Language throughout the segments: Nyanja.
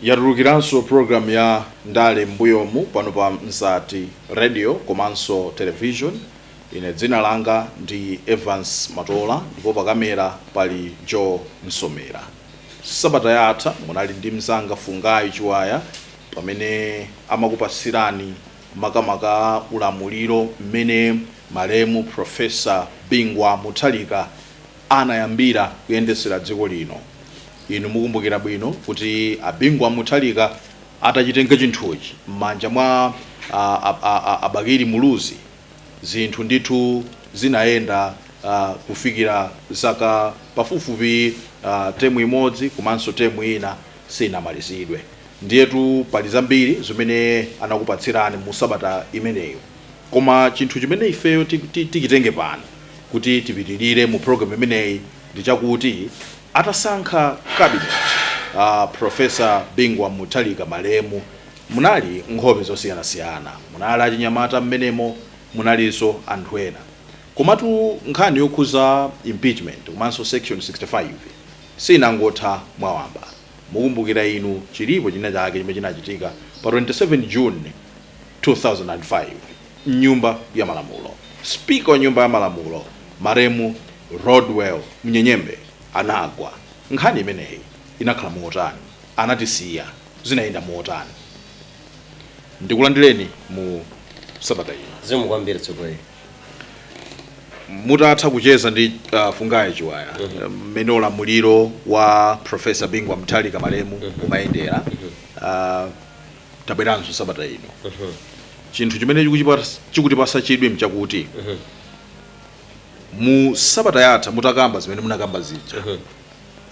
yatulukiranso program ya ndale mbuyomu pano pa mzati radio komanso television ine dzina langa ndi evans matola ndipo pakamera pali joe msomera Sabata yatha munali ndi mzanga Fungai Chiwaya pamene amakupasirani makamaka ulamuliro mmene malemu Prof. Bingu Wa Mutharika anayambira kuyendesera dziko lino. Inu mukumbukira bwino kuti a Bingu Wa Mutharika atachitenga chinthuchi mmanja mwa a Bakili Muluzi, zinthu ndithu zinayenda kufikira zaka pafupifupi term imodzi komanso term ina siinamalizidwe ndiyetu pali zambiri zimene anakupatsirani mu sabata imeneyo koma chinthu chimene ifeyo tichitenge pano kuti tipitirire mu program imeneyi ndi chakuti atasankha cabinet uh, Professor Bingu wa Mutharika malemu Munali nkhope zosiyanasiyana, munali achinyamata mmenemo, munalinso anthu ena. Komatu nkhani yokhuza impeachment komanso section 65 siinangotha mwawamba. Mukumbukira inu chilipo china chake chimene chinachitika pa 27 June 2005 mnyumba ya malamulo. Speaker wa nyumba ya malamulo malemu Rodwell Munyenyembe anagwa. Nkhani imeneyi inakhala motani? Anatisiya. zinayenda motani ndikulandireni mu sabata ino zikomo kwambiri tsogoleri mutatha kucheza ndi uh, fungai chiwaya mmene ulamuliro wa professor bingu wa mutharika malemu umayendera uh, tabweranso sabata ino chinthu chimene chikuchipa- chikutipasa chidwi mchakuti mu sabata yatha mutakamba zimene munakamba zija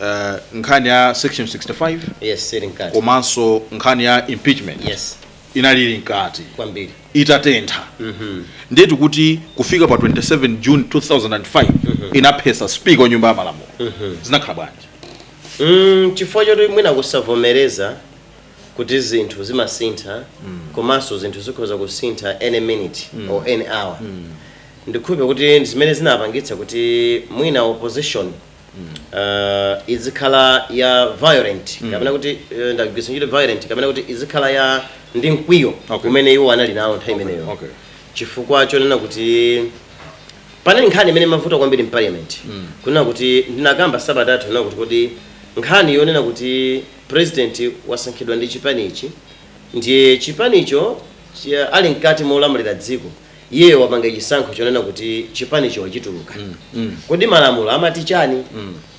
eh, nkhani ya section 65 yes ili mkati komanso nkhani ya impeachment yes inali ili mkati kwambiri itatentha ndiyetu kuti kufika pa 27 june 2005 inaphesa speaker wa nyumba ya malamulo zinakhala bwanji Mm, chifukwa choti mwina kusavomereza kuti zinthu zimasintha komanso zinthu zikhoza kusintha any minute or any hour ndikhulupirira kuti ndi zimene zinapangitsa kuti mwina opposition uh, izikhala ya violent mm. kapena kuti uh, ndagwiritsa ntchito violent kapena kuti izikhala ya ndi mkwiyo okay. umene iwo anali nawo nthawi imeneyo okay. okay. chifukwa chonena kuti panali nkhani imene imavuta kwambiri mparliament mm. kunena kuti ndinakamba sabata yatha kuti kodi nkhani yonena kuti president wasankhidwa ndi chipani ichi ndiye chipanicho ali mkati molamulira dziko iye wapanga chisankho chonena kuti chipanicho wachituluka kodi malamulo amati chani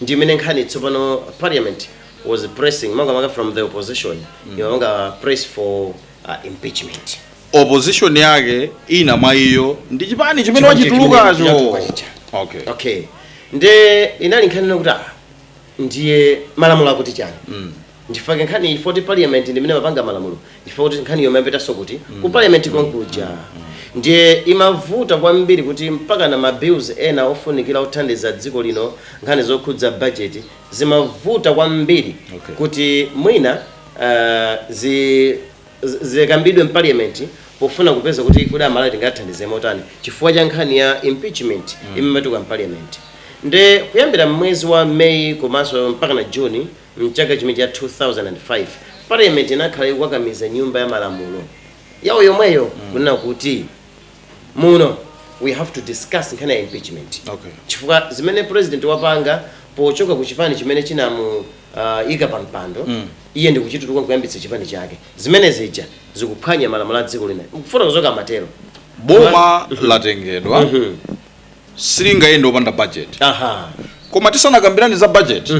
ndi imene nkhani tsopano parliament was pressing makamaka from the opposition imapanga press for uh, impeachment opposition yake ina mwa iyo ndi chipani chimene Chipani chimene wachitulukacho chinatuluka chija. okay okay nde inali nkhani kuti ah, ndiye malamulo akuti chani Nchifukwa chake nkhani chifukwa choti parliament ndi imene imapanga malamulo nchifukwa chake kuti nkhaniyo imapitanso kuti? ku parliament konkuja ndiye imavuta kwambiri kuti mpaka na ma bills ena ofunikira othandiza dziko lino nkhani zokhudza budget zimavuta kwambiri Okay. kuti mwina ah, zi- zi- zikambidwe mparliament pofuna kupeza kuti kodi amalawi tingathandize motani chifukwa cha nkhani ya impeachment imene imabuka mparliament nde kuyambira mmwezi wa meyi komanso mpaka na juni M'chaka chimenecho 2005, Parliament inakhala ikukakamiza nyumba ya malamulo yawo yomweyo, kunena kuti muno we have to discuss nkhani ya impeachment Okay. chifukwa zimene president wapanga pochoka ku chipani chimene chinamuyika pa mpando iye ndi kuchituluka kuyambitsa chipani chake zimene zija zikuphwanya malamulo a dziko lino mkufuna kuzoka matero boma latengedwa silingayende opanda budget aha koma tisanakambirane za budget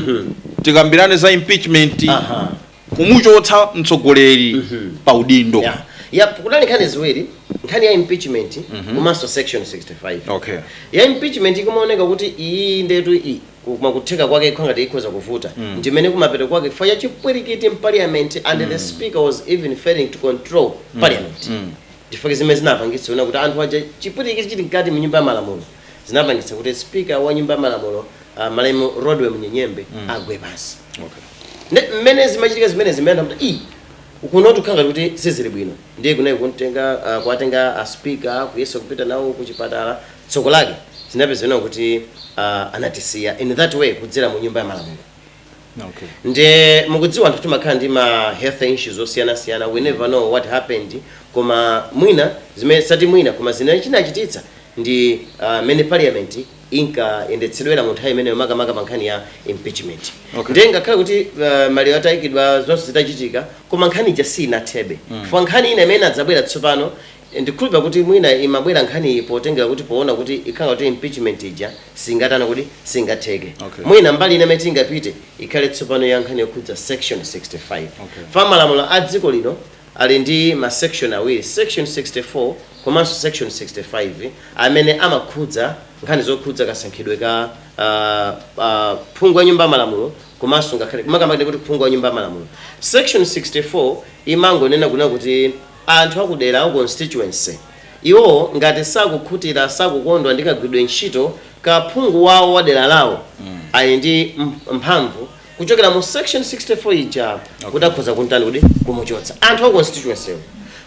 tikambirane za impeachment aha kumuchotsa mtsogoleri pa udindo ya ya kunali nkhani ziwiri nkhani ya impeachment komanso section 65 okay ya impeachment ikumaoneka kuti iyi ndetu iyi koma kutheka kwake kukhala ngati ikhoza kuvuta ndimene kumapeto kwake chifukwa cha chipwirikiti mparliament and the speaker was even failing to control parliament Nchifukwa chake zimene zinapangitsa kunena kuti anthu aja chipwirikiti chili mkati mu nyumba ya malamulo zinapangitsa kuti speaker wa nyumba ya malamulo uh, malemu Rodwell Munyenyembe mm. agwe pansi okay. Nde mmene zimachitika zimene zimayenda kuti ii kunotu kukhala kuti sizili bwino ndiye kunali kuntenga uh, kuwatenga a speaker kuyesa kupita nawo ku chipatala tsoko lake zinapezeka kuti uh, anatisiya in that way kudzera mu nyumba ya malamulo Okay. nde mukudziwa anthu timakhala ndi ma health issues osiyanasiyana we never know what happened koma mwina zimene sati mwina koma zimene chinachititsa ndi ah, mmene parliament inkayendetsedwera mu nthawi imeneyo makamaka pa nkhani ya impeachment Okay. nde ngakhale kuti ah, maliro atayikidwa zonse zitachitika koma nkhani ija sinathebe chifukwa nkhani ina imene inadzabwera tsopano Ndikukhulupira kuti mwina imabwera nkhaniyi potengera kuti poona kuti ikhala ngati kuti impeachment ija singatani kodi, singatheke. Okay. Mwina mbali ina imene tingapite ikhale tsopano ya nkhani yokhudza section 65. Okay. Chifukwa malamulo a dziko lino ali ndi ma section awiri, section 64 komanso section 65 amene amakhudza nkhani zokhudza kasankhidwe ka ah, ah, phungu wa nyumba ya malamulo komanso ngakhale makamaka kuti phungu wa nyumba ya malamulo. Section 64 imangonena kunena kuti anthu a kudera ku constituency. Iwo ngati sakukhutira, sakukondwa ndi kagwiridwe ntchito ka phungu wao wa dera lao, ali ndi mphamvu kuchokera mu section 64 ija kuti akhoza kumtani kodi, kumuchotsa. Anthu a ku constituency-wo.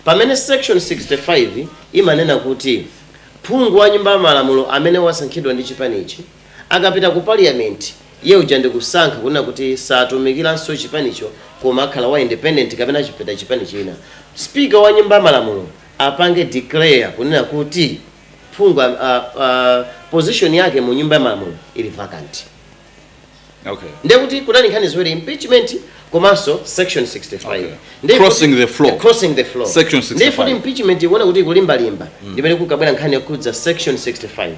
Pamene section 65 imanena kuti phungu wa nyumba ya malamulo amene wasankhidwa ndi chipanichi, Akapita ku parliament iye uja ndikusankha kunena kuti satumikilanso chipanicho koma akhala wa independent kapena wapita chipani china. Speaker wa nyumba ya malamulo apange declare kunena kuti phungu a a a position yake mu nyumba ya malamulo ili vacant. Okay. ndiye kuti kunali nkhani ziwiri impeachment komanso section 65 Okay. Ndiye Crossing kuti- the floor. crossing the floor Section 65. ndiye kuti impeachment ikuona kuti ikulimbalimba ndimene kukabwera nkhani yokhudza section 65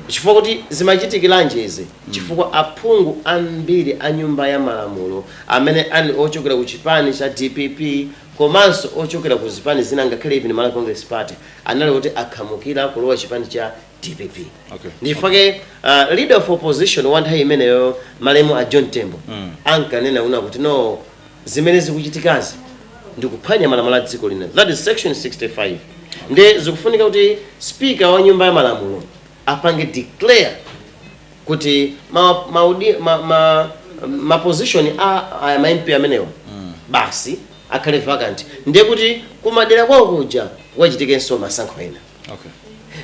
chifukwa kuti zimachitikiranji izi chifukwa aphungu ambiri a nyumba ya malamulo amene ali ochokera ku chipani cha udf komanso ochokera ku zipani zina ngakhale even malawi congress party anali kuti akhamukira kulowa chipani cha dpp Okay. ndi chifukwa chake uh, leader of opposition wa nthawi imeneyo malemu a john tembo Mm. ankanena kunena kuti no zimene zikuchitikazi ndikuphwanya malamulo a dziko lino that is section 65 nde zikufunika kuti speaker wa nyumba ya malamulo apange declare kuti ma, maudi, ma, ma, ma position a, a ma MP amenewa basi akhale vacant ndiye kuti kumadera kwawo kuja kukachitikenso masankho ena Okay.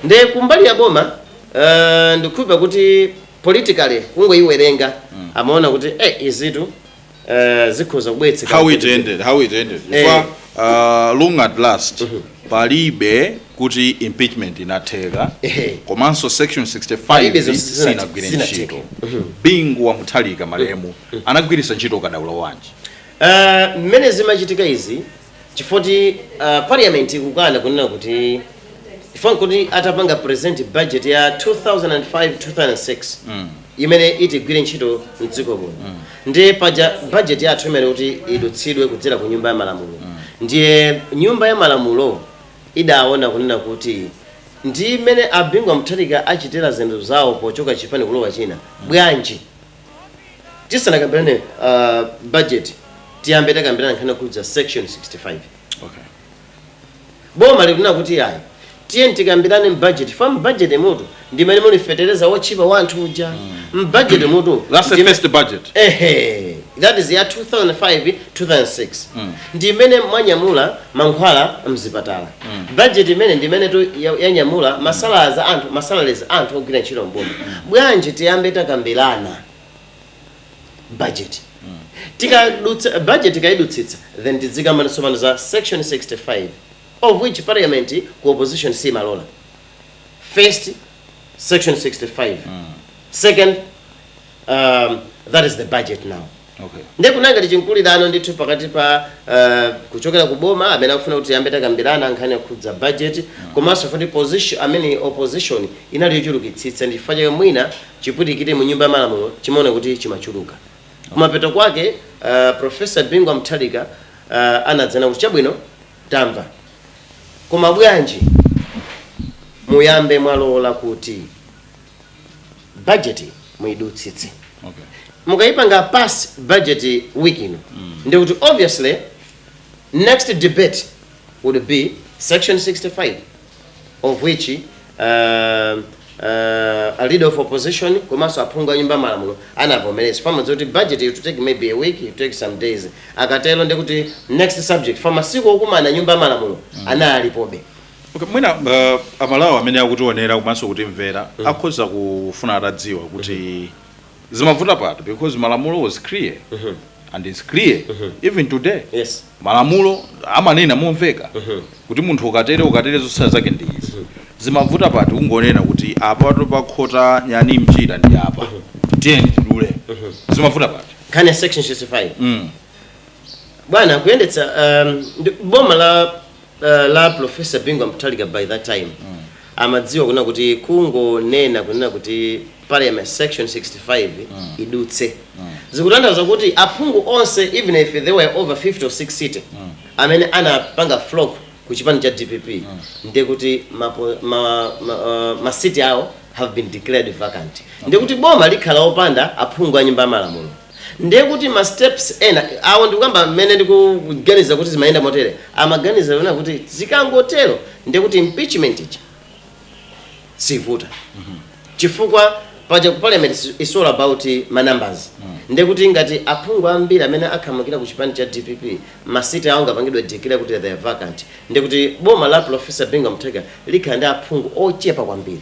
Nde kumbali ya boma uh, ndikukhulupira kuti politically kungoyiwerenga mm. amaona kuti eh, izitu uh, zikhoza kubweretsa how it ended how it ended eh. Kwa, uh, long at last mm -hmm. palibe kuti impeachment inatheka eh. komanso section 65 sinagwire ntchito mhm. bingu wa mutharika malemu mhm. anagwiritsa ntchito ukadaulo wanji eh, mmene uh, zimachitika izi chifukwa choti uh, parliament ikukana kunena kuti ifan kuti atapanga present budget ya 2005 2006 mm. imene itigwire ntchito mdziko muno mm. ndiye paja budget yathu imayenera kuti idutsidwe kudzera ku nyumba ya malamulo mm. ndiye nyumba ya malamulo idaona kunena kuti ndi mmene a bingu wa mutharika achitira zinthu zawo pochoka chipani kulowa china bwanji tisanakambirane uh, budget tiyambe takambirana nkhani yokhudza section 65 okay boma likunena kuti ayi tiyeni tikambirane budget first mbajeti mutu ndi mmene muli fetereza wotchipa wa anthu uja mbajeti mutu ndi- that's the first budget ehe that is ya 2005 2006 ndi imene mwanyamula mankhwala mzipatala budget imene ndi imenetu ya- yanyamula masalaries a anthu masalaries a anthu ogwira ntchito mboma bwanji tiyambe takambirana budget tikadutsa budget tikayidutsitsa then tidzikamba tsopano za section 65 of which parliament ku opposition simalola first section 65 second um, that is the budget now Okay. Ndiye kunali ngati chinkhulirano ndithu pakati pa uh, kuchokera ku boma amene akufuna kuti tiyambe takambirana nkhani yokhudza budget komanso futi opposition amene opposition inali yochulukitsitsa ndi chifukwa chake mwina chipwirikiti mu nyumba ya malamulo timaona kuti chimachuluka kumapeto kwake uh, professor Bingu wa Mutharika uh, anadzanena kuti chabwino tamva koma bwanji muyambe mwalola kuti budget muidutsitse okay mukayipanga pass budget week ino ndi kuti obviously next debate would be section 65 of which uh, uh, a leader of opposition komanso aphungu a nyumba malamulo anavomereza pamodzi kuti budget it will take maybe a week it will take some days akatero ndi kuti next subject for masiku okumana nyumba malamulo analipobe Okay, mwina uh, amalawi amene akutionera komanso kutimvera mm. akhoza kufuna atadziwa kuti mm -hmm. zimavuta pati because malamulo was clear mm -hmm. and it's clear mm -hmm. even today yes. malamulo amanena momveka mm -hmm. kuti munthu ukatere ukatere zotsatira zake ndi izi mm -hmm. zimavuta pati kungonena kuti apatu pakhota nyani mchira ndi apa mm -hmm. tiyeni tidule mm -hmm. zimavuta pati kind of section 65 mm. bwana kuyendetsa um, boma la uh, la Professor Bingu Mutharika by that time amadziwa kunena kuti kungonena kunena kuti parliament section 65 idutse zikutanthauza kuti aphungu onse even if they were over 50 or sixty amene anapanga flock ku chipani cha dpp ndiye kuti map- ma- ma- uh, masiti awo have been declared vacant ndiye kuti boma likhala opanda aphungu a nyumba ya malamulo Ndiye kuti ma steps ena awo ndikukamba mmene ndikuganiza kuti zimayenda motere, amaganiza kunena kuti zikangotero ndiye kuti impeachment ija siivuta chifukwa paja ku parliament is- is all about ma numbers ndiye kuti ngati aphungu ambiri amene akhamukira ku chipani cha dpp masiti awo angapangidwe declare kuti they are vacant ndiye kuti boma la professor bingu mutharika likhala ndi aphungu ochepa kwambiri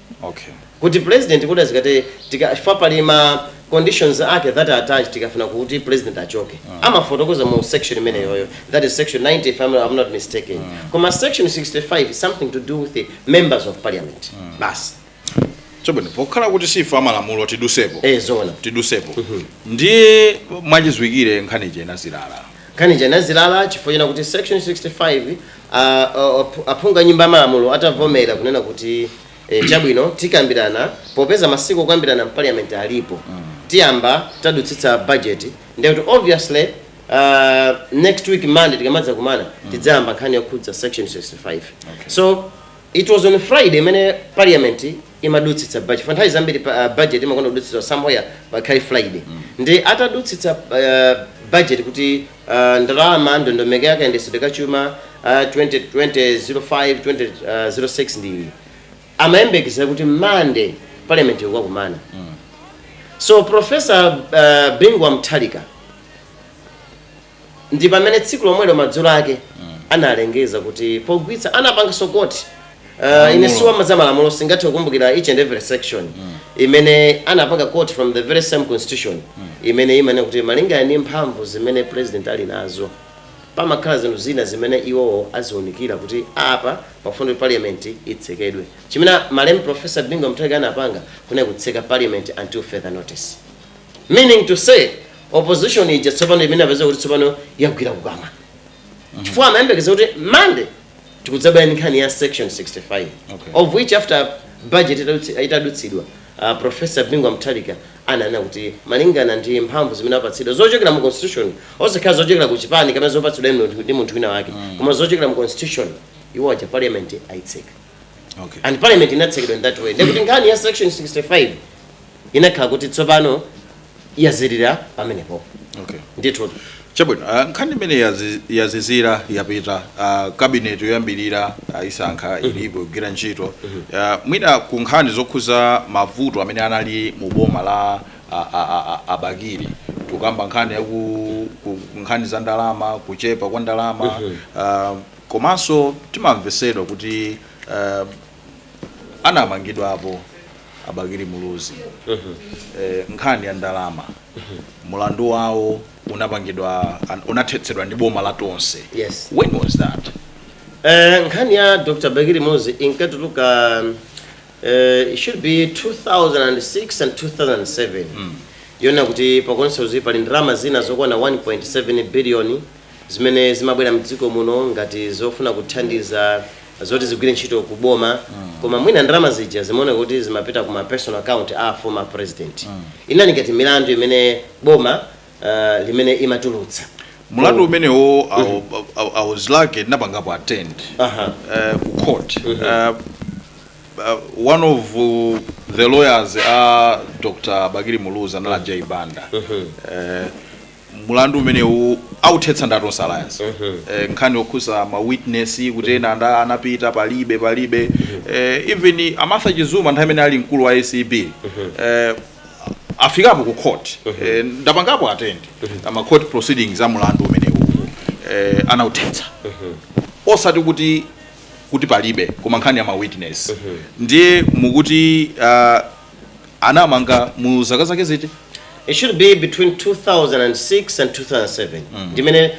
okay kuti president kuti achoke chifukwa pali ma conditions ake that are attached tikafuna kuti president achoke amafotokoza mu section imeneyoyo that is section 90 if I'm, I'm not mistaken koma section 65 is something to do with the members of parliament basi chabwino pokhala kuti si ife a malamulo tidutsepo eh zoona tidutsepo ndiye mwachidziwikire nkhani ija inazilala Nkhani ija inazilala chifukwa chonena kuti section 65 a aphungu a nyumba ya malamulo atavomera kunena kuti e, chabwino tikambirana popeza masiku okambirana mparliament alipo tiyamba tadutsitsa budget ndiye kuti obviously uh, next week monday tikamadzakumana tidzayamba nkhani yokhudza section 65 so it was on friday mmene parliament imadutsitsa budget chifukwa nthawi zambiri pa- ah, budget imakonda kudutsitsa somewhere pakhale friday ndiye atadutsitsa ah, budget kuti ah, ndalama ndondomeko yake ya kayendetsedwe ka chuma ah, 2005 2006 ndi iyi amayembekezera kuti monday parliament ikukakumana so professor uh, bingu wa mutharika ndi pamene tsiku lomwelo madzulo ake analengeza kuti pogwiritsa anapanganso quote Uh, ine si wa ma za malamulo singathe kukumbukira each and every section imene anapanga quote from the very same constitution imene imanena kuti malingana ndi mphamvu zimene president ali nazo pamakhala zinthu zina zimene iwowo aziunikira kuti apa pafunika kuti parliament itsekedwe chimene malemu professor bingu mutharika anapanga kunali kutseka parliament until further notice meaning to say opposition ija tsopano inapezeka kuti tsopano yagwira kukamwa chifukwa amayembekeza kuti mande tikudzabaya ndi nkhani ya section 65 Okay. of which after budget itadutsi- itadutsidwa uh, professor bingu wa mutharika ananena kuti malingana ndi mphamvu zimene apatsidwa zochokera mu constitution osakhala zochokera ku chipani kapena zopatsidwa ndi munthu- ndi munthu wina wake koma zochokera mu constitution iwo aona parliament ayitseka Okay. and parliament inatsekedwa in that way ndekuti nkhani ya section 65 inakhala kuti tsopano yazilala pamenepo Okay. ndithu chabwino ah, nkhani imeneyi yazi- yazizira yapita ah, kabineti yoyambirira ayisankha ilipo ikugwira ntchito Ah, mwina ku nkhani zokhudza mavuto amene anali mu boma la ah, ah, ah, ah, a Bakili tukamba nkhani yaku ku- nkhani za ndalama kuchepa kwa ndalama ah, Komanso timamvetsedwa kuti uh, anamangidwapo a Bakili Muluzi uh mhm. -huh. eh, nkhani ya ndalama uh mhm. -huh. mlandu wawo unapangidwa unathetsedwa ndi boma la tonse yes. when was that eh, nkhani ya Dr. Bakili Muluzi inkatuluka uh, it should be 2006 and 2007 mm. yonena kuti pakonse uzipa pali ndalama zina zokwana 1.7 billion zimene zimabwera mdziko muno ngati zofuna kuthandiza zoti zigwire ntchito ku boma koma mwina ndalama zija zimaoneka kuti zimapita ku ma personal account a former president inali ngati milandu imene boma uh, limene limatulutsa mulandu umenewo I wa- I wa- I was lucky ndinapangapo attend Aha. eh, ku court Eh, eh, one of uh, the lawyers a dr bakili muluzi anali a Jai Banda Eh, mulandu umenewu authetsa ndi a Tonse Alliance eh, nkhani yokhuza ma witness kuti ena anda anapita palibe palibe eh, even a Martha Chizuma nthawi imene ali mkulu wa ACB eh, afikapo ku court eh, ndapangapo attend ama court proceedings a mulandu umenewu eh, anauthetsa osati kuti kuti palibe koma nkhani ya ma witness ndiye mukuti uh, anamanga mu zaka zake ziti it should be between 2006 and 2007 ndimene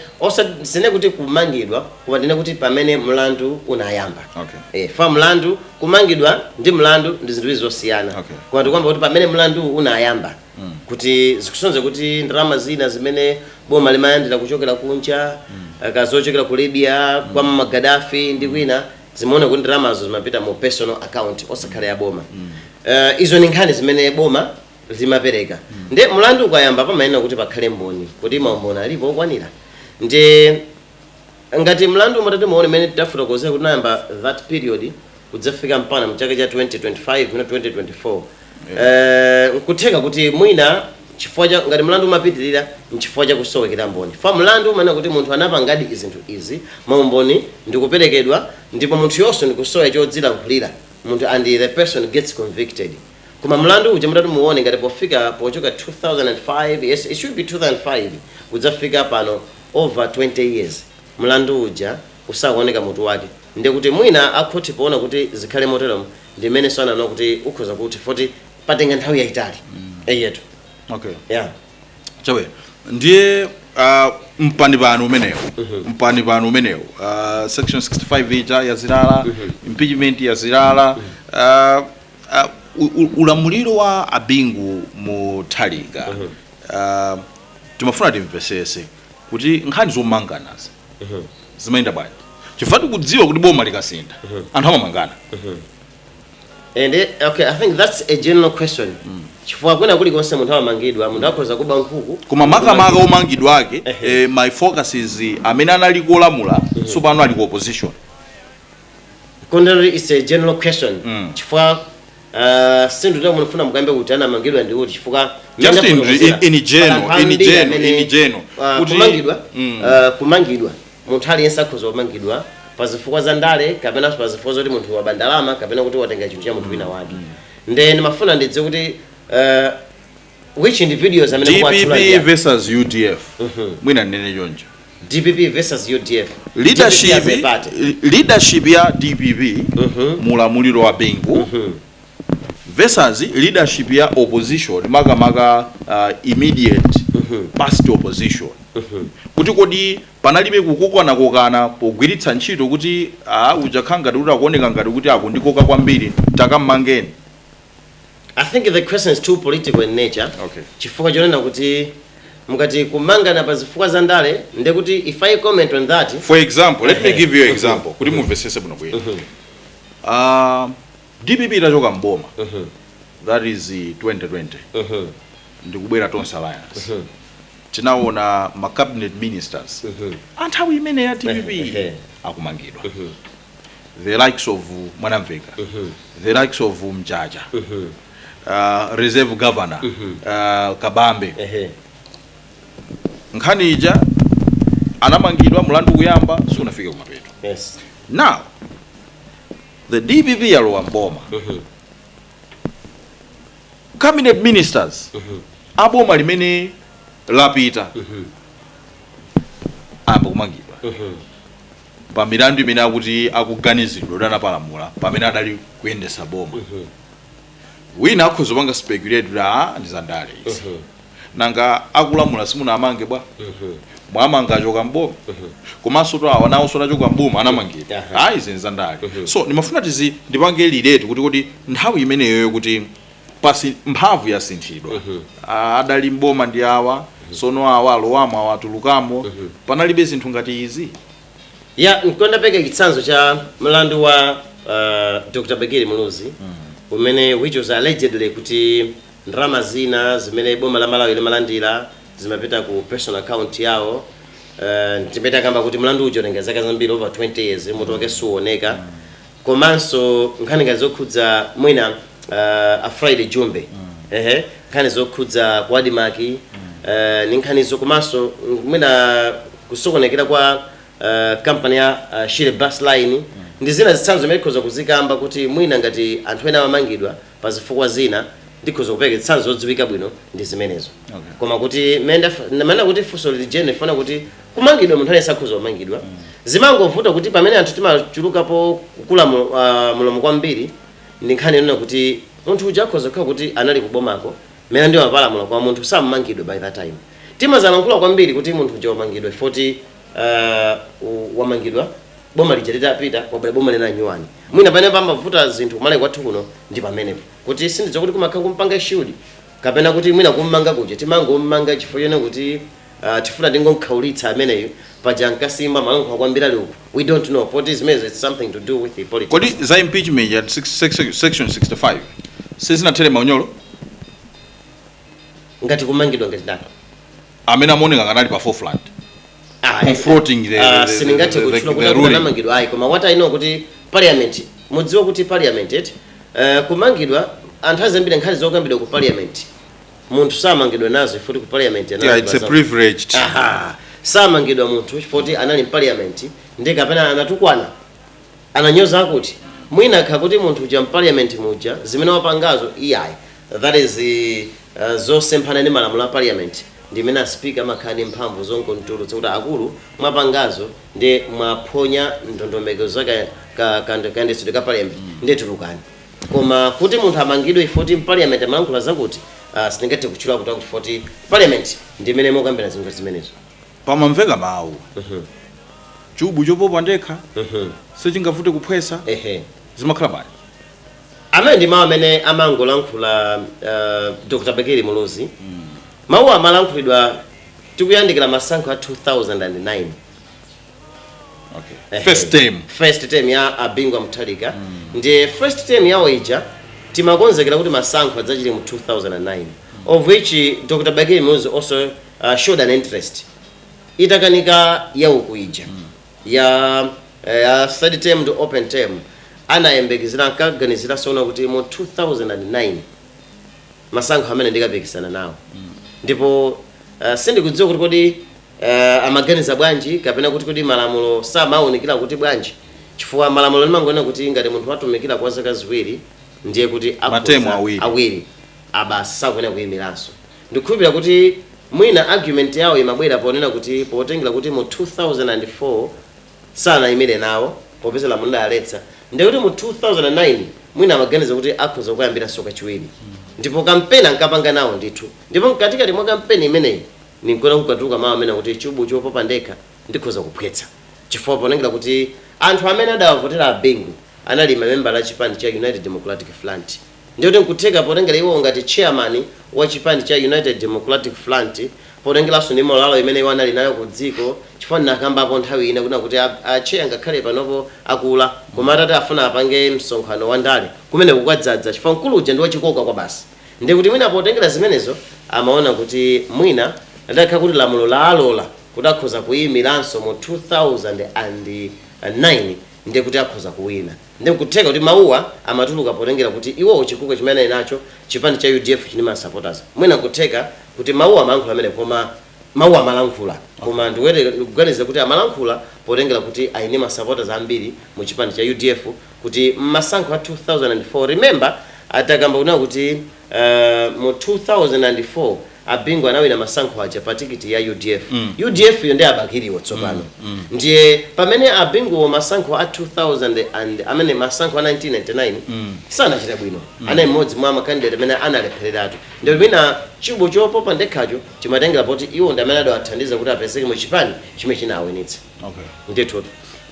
sindinene kuti kumangidwa koma ndinene kuti pamene mlandu unayamba Okay. eh, fa mlandu kumangidwa ndi mlandu ndi zinthu ziwiri zosiyana Okay. koma ndikukamba kuti pamene mlandu unayamba kuti zikusonyeza kuti ndalama zina zimene boma limalandira kuchokera kunja ngati zochokera ku libya kwa Muammar Gaddafi ndi kwina zimaoneka kuti ndalamazo zimapita mu personal account osakhala ya boma Eh, izo ni nkhani zimene boma limapereka nde mlandu ukayamba pamayenera kuti pakhale mboni kuti maumboni alipo okwanira nde ngati mlandu umatati muone mene tafotokozera kuti unayamba that period kudzafika mpana mchaka cha 2025 na 2024 Eh, nkutheka kuti mwina chifukwa cha ngati mlandu umapitirira nchifukwa cha kusowekera mboni fa mlandu umanena kuti munthu anapangadi zinthu izi maumboni ndikuperekedwa ndipo munthuyonso ndikusowa chodzilankhulira munthu and the person gets convicted koma mlandu uja mutati muone ngati pofika pochoka 2005 yes it should be 2005 kudzafika pano over 20 years mlandu uja usakuoneka mutu wake ndikuti mwina akhothi poona kuti zikhale moteromo ndi imene anaona kuti ukhoza kutha poti patenga nthawi yayitali eyetu okay yeah chabwe ndiye uh, mpani pano umenewu mpani pano umenewu uh, section 65 ija yazilala impeachment yazilala uh, uh, u- u- ulamuliro wa a Bingu Mutharika uh, timafuna timvesese kuti nkhani zomanganazi zimayenda bwanji chifukwa tikudziwa kuti boma likasintha anthu amamangana and eh, okay i think that's a general question chifukwa kwina kulikonse munthu amamangidwa munthu akhoza kuba nkhuku koma makamaka omangidwa ake Ehe. eh, my focus is eh, amene anali kulamula tsopano ali ku opposition komatu it is a general question Mm. chifukwa Ah, si nthu ndiyo munafuna mukambe kuti anamangidwa ndi kuti chifukwa Just in- in- in general, in general, in general. Kuti- Kuti kumangidwa Mm. ah, kumangidwa munthu aliyense akhoza kumangidwa pa zifukwa za ndale kapena pa zifukwa zoti munthu waba ndalama kapena kuti watenga chinthu cha munthu wina wake nde ndimafuna ndidziwe kuti ah, which individuals amene dpp mukuwatchulaja versus udf mwina ndinene choncho dpp versus udf leadership, DPP as a party. leadership ya dpp mulamuliro wa bingu versus leadership ya opposition makamaka uh, immediate past opposition kuti kodi panalibe kukokanakokana pogwiritsa ntchito kuti uh, uja akukhala ngati kuti akuoneka ngati kuti akundikoka kwambiri takam'mangeni I think the question is too political in nature Okay. chifukwa chonena kuti mukati kumangana pa zifukwa za ndale nde kuti if I comment on that for example let me give you an example kuti mumvesese bwino bwino uh, dpp itachoka mboma that is eh, 2020 ndikubwera tonse alliance tinaona ma cabinet ministers a nthawi imene ya dpp Ehe. akumangidwa the likes of mwanamveka the likes of mjaja uh, reserve governor uh, kabambe ehe nkhani ija anamangidwa mlandu kuyamba siunafike kumapeto yes now the dpp yalowa mboma cabinet ministers a boma limene lapita ayamba kumangidwa pa milandu imene akuti akuganiziridwa kuti anapalamula pamene adali kuyendesa boma wina akhoza kupanga speculate kuti a ndi zandale izi nanga akulamula simunawamange bwa mwamanga achoka mboma komanso to awa nawonso anachoka mboma anamangidwa Aha. ayi izi ndi zandale so ndimafuna izi ndipange relate kuti kuti nthawi imeneyoyo kuti pasi mphamvu yasinthidwa mm -hmm. adali mboma ndi awa mm -hmm. sono awa alowamo awa atulukamo mm -hmm. panalibe zinthu ngati izi ya nkanapereka chitsanzo cha mlandu wa uh, dr bakili muluzi mm -hmm. umene which was allegedly kuti ndalama zina zimene boma la malawi limalandira zimapita ku personal account yawo uh, ndimene akamba kuti mlandu uja watenga zaka zambiri over 20 years mutu wake suoneka mm -hmm komanso nkhani ngati zokhudza mwina uh, a friday jumbe ehe nkhani zokhudza ku ADMARC uh, ndi nkhanizo komanso mwina kusokonekera kwa uh, kampani ya uh, shire bus line ndi zina zitsanzo zimene tikhoza kuzikamba kuti mwina ngati anthu ena amamangidwa Pa zifukwa zina, ndikhoza kupereka zitsanzo zodziwika bwino ndi zimenezo. Okay. Koma kuti mmene ndaf- ndimanena kuti funso lija ndifuna kuti kumangidwa munthu aliyense akhoza kumangidwa. Zimangovuta kuti pamene anthu timachulukapo kukula mu- ah, mulomo kwambiri ndi nkhani yonena kuti munthu uja akhoza kukhala kuti anali kubomako mwina ndi amapalamula koma munthu samangidwa by that time. Timazalankhula kwambiri kuti munthu uja wamangidwa chifukwa kuti uh, u- wamangidwa boma lija litapita kwabwera boma lina nyuwani. Ndiye mwina pamene pamavuta zinthu kumalawi kwathu kuno ndi pamenepo kuti sindidziwa kuti kumakhala kumpanga shield kapena kuti mwina kummanga kuja timangommanga chifukwa chonena kuti uh, tifuna tingomkhaulitsa ameneyo paja ankasimbwa amalankhula kwambiri ali uku we don't know poti zimenezo it's something to do with the politics kodi za impeachment ya six- six- section 65 sizinathere maunyolo ngati kumangidwa ngati ndani amene amaoneka ngati ali pa forefront Ah, Confronting the- ah, the- sindingathe the- the- kutchula the kuti ruling. anamangidwa ayi koma what i know kuti parliament mukudziwa kuti parliament eti eh, kumangidwa anthu ayi zambiri nkhani zokambidwa ku parliament munthu samangidwa nazo chifukwa choti ku parliament anali yeah, it's a baza- privileged Aha. samangidwa munthu chifukwa kuti anali mparliament ndi kapena anatukwana Ananyoza akuti mwina kukhala kuti munthu uja mpaliyamenti muja zimene wapangazo iyayi that is zosemphana ndi malamulo a parliament ndimene a speaker amakhala ndi mphamvu zongomtulutsa kuti akulu mwapangazo ndi mwaphonya ndondomeko za kayendetsedwe ka parliament nde tulukani koma kuti munthu amangidwe chifukwa choti mpaliyamenti amalankhula zakuti sindingathe kutchula akuti akuti chifukwa choti parliament ndimene mumakambirana zinthu ngati zimenezo. pamamveka mawu chubu chopopa ndekha sichingavute kuphwesa ehe zimakhala bwanji amenewa ndi mawu amene anangolankhula uh, dr bakili muluzi mawu amalankhulidwa tikuyandikira masankho a 2009 okay. Ehe. first time first term ya a Bingu wa Mutharika ndiye first term yawo ija timakonzekera kuti masankho adzachite mu 2009 of which dr bakili muluzi also uh, showed an interest itakanika ya uku ija ya ya third term ndi open term anayembekezera ankaganizira tsono kuti mu 2009 masankho amenewa ndikapikisana nawo ndipo uh, sindikudziwa kuti kodi uh, amaganiza bwanji kapena kuti kodi malamulo samawunikira kuti bwanji chifukwa lamulo limangonena kuti ngati munthu watumikira kwa zaka ziwiri ndiye kuti akhoza- Matemu awiri. awiri basi sakuyenera kuyimiranso Ndikukhulupilira kuti mwina argument yawo imabwera ponena kuti potengera kuti mu 2004 sanayimire nawo popeza lamulo lidaletsa ndiye kuti mu 2009 mwina amaganiza kuti akhoza kuyambiranso kachiwiri ndipo kampeni ankapanga nawo ndithu ndipo mkatikati mwa kampeni imeneyi ndi mmene kunkatuluka mau amene akuti chubu chopopa ndekha ndikhoza kuphwetsa chifukwa potengera kuti anthu amene adawavotera a Bingu anali mamembala a chipani cha United Democratic Front Ndiye kuti nkutheka potengera iwowo ngati chairman wa chipani cha United Democratic Front potengeranso ndi morale imene iwo anali nayo ku dziko chifukwa ndinakambapo nthawi ina kunena kuti a Atcheya ngakhale panopo akula koma atati afuna apange msonkhano wa ndale kumeneko kukadzadza chifukwa mkulu uja ndi wa chikoka kwabasi ndiye kuti mwina potengera zimenezo amaona kuti mwina lidakhala kuti lamulo laalola kuti akhoza kuimiranso mu 2009 ndiye kuti akhoza kuwina. Nde nkutheka kuti mawuwa amatuluka potengera kuti iwowo chikoka chimene anali nacho chipani cha udf chinali ndi ma supporters mwina nkutheka kuti mawuwa amalankhula pamenepo koma mawuwa amalankhula koma ndikuganiza kuti amalankhula potengera kuti anali ndi ma supporters ambiri mu chipani cha udf kuti mmasankho a 2004 remember adakamba kunena kuti Eeeh mu 2004 a Bingu anawina masankho aja pa tikiti ya udf. Udf yo ndi a Bakiliwo tsopano. Ndiye pamene a Binguwo masankho a 2000 and amene masankho a 1999 sanachite bwino. Anali mmodzi mwa ma candidate amene analephereratu. Ndiye mwina chubu chopopa ndekhacho chimatengera poti iwo ndi amene adawathandiza kuti apezeke mu chipani chimene chinawinitsa. okay ndithu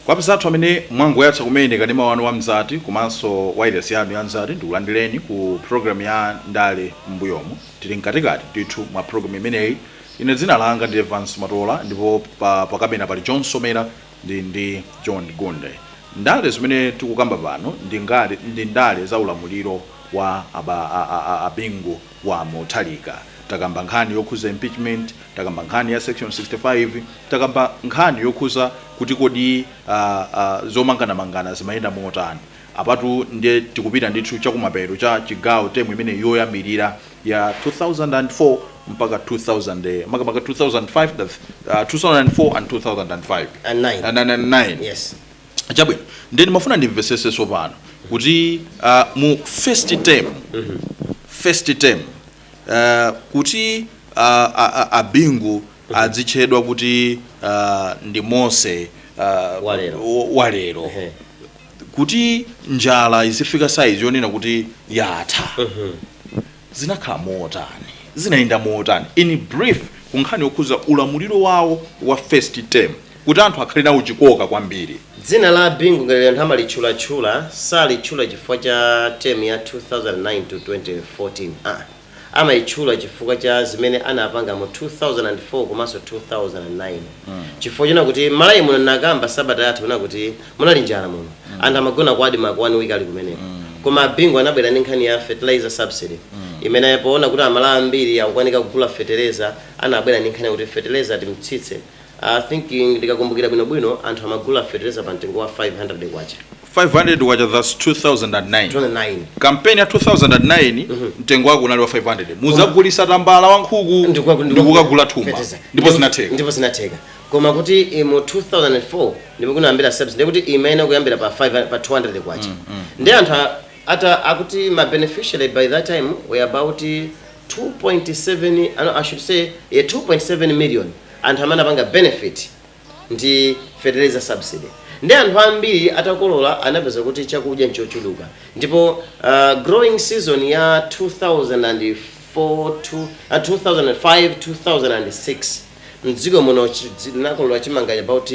kwa apezi athu amene mwangoyatsa kumene kanema wanu wa mzati komanso wailesi yanu ya mzati ndikulandireni ku programu ya ndale m'mbuyomu tili mkatikati ndithu mwa programu imeneyi ine dzina langa ndi evans matola ndipo pa, pakamera pali john somera ndi ndi john gunde ndale zimene tikukamba pano ndi ngale- ndi ndale za ulamuliro wa aba- a- a- a- abingu wa Mutharika. Takamba nkhani yokhuza impeachment, takamba nkhani ya section 65, takamba nkhani yokhuza kuti kodi uh, uh, zomanganamangana zimayenda motani. Apatu ndiye tikupita ndithu chakumapeto kwa chigawo temu imene yoyambirira ya 2004 mpaka 2000 eh, makamaka 2005 that's, uh, 2004 and 2005 And nine. and, and, and nine. Yes. chabwino ndiye ndimafuna ndimvesese tsopano kuti ah, mu first term first term ah, kuti ah, ah, ah, abingu adzitchedwa kuti ah, ndi mose ah, Walero. wa- walero Ehe. kuti njala izifika saizi yonena kuti yatha zinakhala motani? zinayenda motani in brief ku nkhani yokhuza ulamuliro wawo wa first term kuti anthu akhale nawo chikoka kwambiri? Dzina la Bingu ngati anthu amalitchulatchula salitchula chifukwa cha term ya 2009 to 2014 aa amalitchula chifukwa cha zimene anapanga mu 2004 komanso 2009 chifukwa chonena kuti Malawi muno ndinakamba sabata yatha kunena kuti Munali njala muno. Anthu amagona ku Admarc one week ali kumeneko. Koma a Bingu anabwera ndi nkhani ya fertilizer subsidy imene poona kuti a Malawi ambiri akukanika kugula fetereza anabwera ndi nkhani yakuti fetereza timtsitse. I think ndikakumbukira bwinobwino anthu amagula fetereza pa mtengo wa K500. K500 thus 2009. 2009. Campaign ya 2009 mtengo wake unali wa K500. Muzagulisa tambala wa nkhuku Ndi kukaku- ndi kukagula thumba. Fetereza. Ndipo zinatheka. Ndipo zinatheka. Koma kuti i mu 2004 ndipo kunayambira subsidy ndiye kuti imayenera kuyambira pa 5 pa 200 kwacha. Ndiye anthu a- ata akuti ma beneficiary by that time were about 2.7 I know, I should say yeah, 2.7 million anthu amene anapanga benefit ndi fertilizer subsidy ndi anthu ambiri atakolola anapeza kuti chakudya nchochuluka ndipo uh, growing season ya 2004 to, uh, 2005 2006 mdziko muno linakolola chimanga about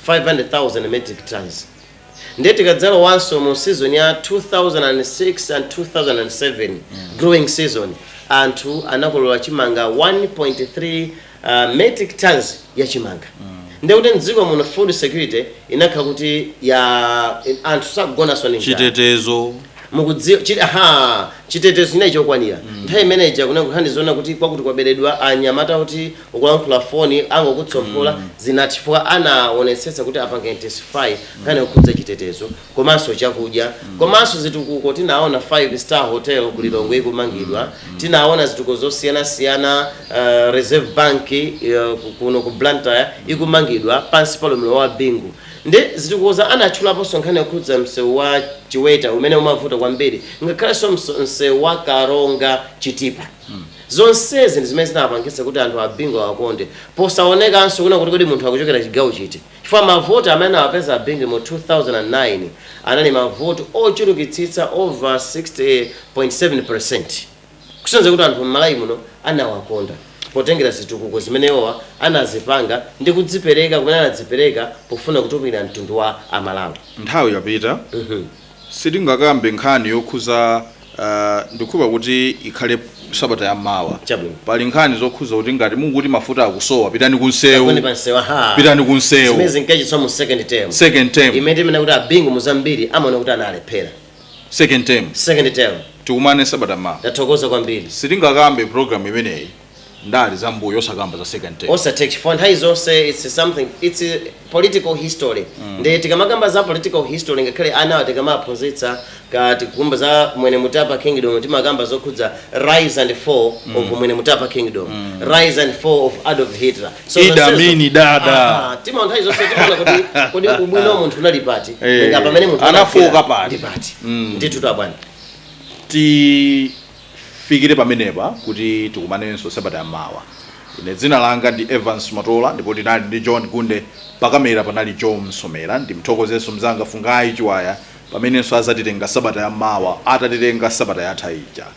500,000 metric tons ndiye tikadzalowanso mu season ya 2006 and 2007 mm. growing season anthu anakolola chimanga 1.3 uh, metric tons ya chimanga mm. ndiye kuti mdziko muno food security inakhala kuti ya anthu sakugonanso ndi njala. chitetezo Mukudziwa, chi, ha, chitetezo chinali chokwanira nthawi imene ija kunena kuti nkhani zonena kuti kwakuti kwaberedwa anyamata oti ukulankhula foni angokutsomphola zinatha chifukwa anawonetsetsa kuti apanga intensify nkhani yokhudza chitetezo komanso chakudya komanso zitukuko tinaona five star hotel ku Lilongwe ikumangidwa tinaona zitukuko zosiyanasiyana uh, Reserve Bank uh, ku- kuno ku Blantyre ikumangidwa pansi pa ulamuliro wa Bingu Nde a Zitikuuza anatchulaponso nkhani yokhudza msewu wa Chiweta umene umavuta kwambiri ngakhalenso msewu wa Karonga Chitipa. Zonsezi ndi zimene zinapangitsa kuti anthu a Bingu awakonde posaonetsanso kunena kuti kodi munthu akuchokera chigawo chiti chifukwa mavoti amene anawapeza a Bingu mu 2009 anali mavoti ochulukitsitsa over 60.7%. Kusonyeza kuti anthu m'Malawi muno anawakonda potengera zitukuko zimene iwowa anazipanga ndi kudzipereka kumene anadzipereka pofuna kutumikira mtundu wa a Malawi. Nthawi yapita sitingakambe nkhani yokhuza ndikhulupirira kuti ikhale sabata ya mawa. Chabwino. Pali nkhani zokhuza kuti ngati mukuti mafuta akusowa pitani ku nseu. Kagone pa nseu aha. Pitani ku nseu. Zimene zinkachitika mu second term. Second term. Imene timanena kuti a Bingu mu zambiri amaona kuti analephera. second term second term tikumane sabata mawa ndathokoza kwambiri sitingakambe program imeneyi ndale za mbuyo osakamba za second term osathe chifukwa nthawi zonse its something its political history ndi tikamakamba za political history ngakhale anawa tikamaphunzitsa tikamakamba za mwene mutapa kingdom timakamba zokhudza rise and fall of mwene mutapa kingdom rise and fall of adolf hitler So ida zonsezo- mini dada Aha, timaona nthawi zonse timaona kuti kodi ubwino wa munthu unali pati Eh, Nanga pamene munthu anafoka anafika, pati. ndi pati Mm. ndithu abwana tifikire pamenepa kuti tikumanenso sabata yamawa ine dzina langa ndi evans matola ndipo tinali ndi john gunde pakamera panali joe msomera ndimthokozenso mzanga fungayi chiwaya pamenenso azatitenga sabata yamawa atatitenga sabata yatha ija